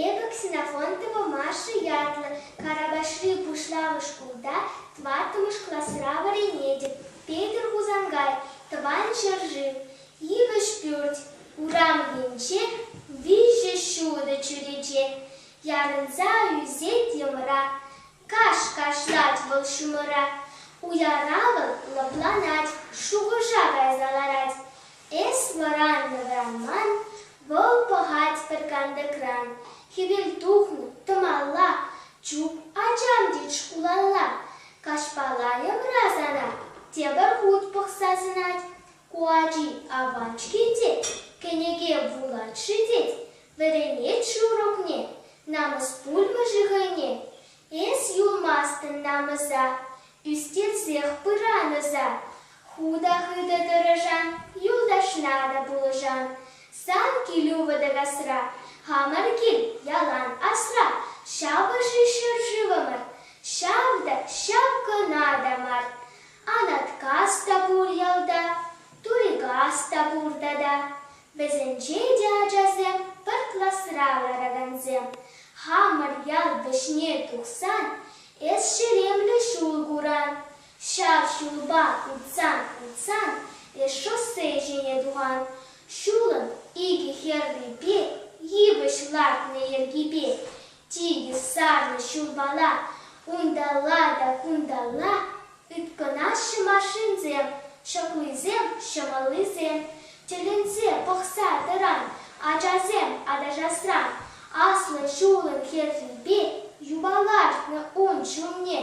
Эпӗ Ксенофонт тӑвӑмашшӗ ятлӑ Карапашри пуҫламӑш шкулта тӑваттӑмӗш класра вӗренетӗп. Петӗр Хусанкай, тӑван ҫӗршыв, Йывӑҫ пӳрт, урам енче виҫӗ ҫутӑ чӳрече ярӑнса ӳсет йӑмра. Каш кашлать вӑл ҫумӑра. Уяра вӑл лӑпланать, шухӑша кайса ларать. Эс вӑраннӑ-вӑранман, вӑл пӑхать пӗр кантӑкран. Хӗвел тухнӑ, тӑмалла, чуп ачам тет шкулалла. Каҫпа лайӑмра сана тепӗр хут пӑхса сӑнать. Ку ачи апат-ҫке тет, кӗнеке вулать-ши тет, Вӗренет-ши урокне намӑс пулмӗ-ши хӑйне? Эс юлмастӑн намӑса, ӳстерсех пыран ӑса. Ху та хытӑ тӑрӑшан, юлташна та пулӑшан. Сан килӳ вӑтӑ-касра, хамӑр кил ялан асра. Ҫапӑ-ши ҫӗршывӑмӑр, ҫав та ҫав кӑна та мар. Анаткас та пур ялта, Турикас та пур тата. Вӗсенче те ачасем пӗр класра ларакансем. Хамӑр ял вӗҫне тухсан эс ҫеремлӗ ҫул куран. Ҫав ҫулпа утсан-утсан эс шоссе ҫине тухан. Ҫулӑн икӗ хӗррипе, йывӑҫ лартнӑ йӗркипе Типӗ сарнӑ ҫурмалла унталла та кунталла ыткӑнаҫҫӗ машинсем, ҫӑкуйсем, ҫӑмӑллисем. Тӗлӗнсе пӑхса тӑран ачасем аташасран аслӑ ҫулӑн хӗррипе юпа лартнӑ ун ҫумне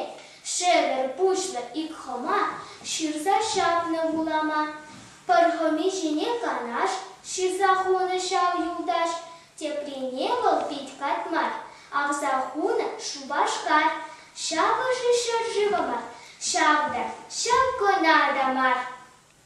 шӗвӗр пуҫлӑ ик хӑма ҫырса ҫапнӑ вулама. Пӗр хӑми ҫине канаш ҫырса хунӑ ҫав юлташ Теприне вӑл пит пат мар, авса хунӑ Шупашкар, ҫавӑ-ши ҫӗршывӑмӑр, ҫав та, ҫав кӑна та мар.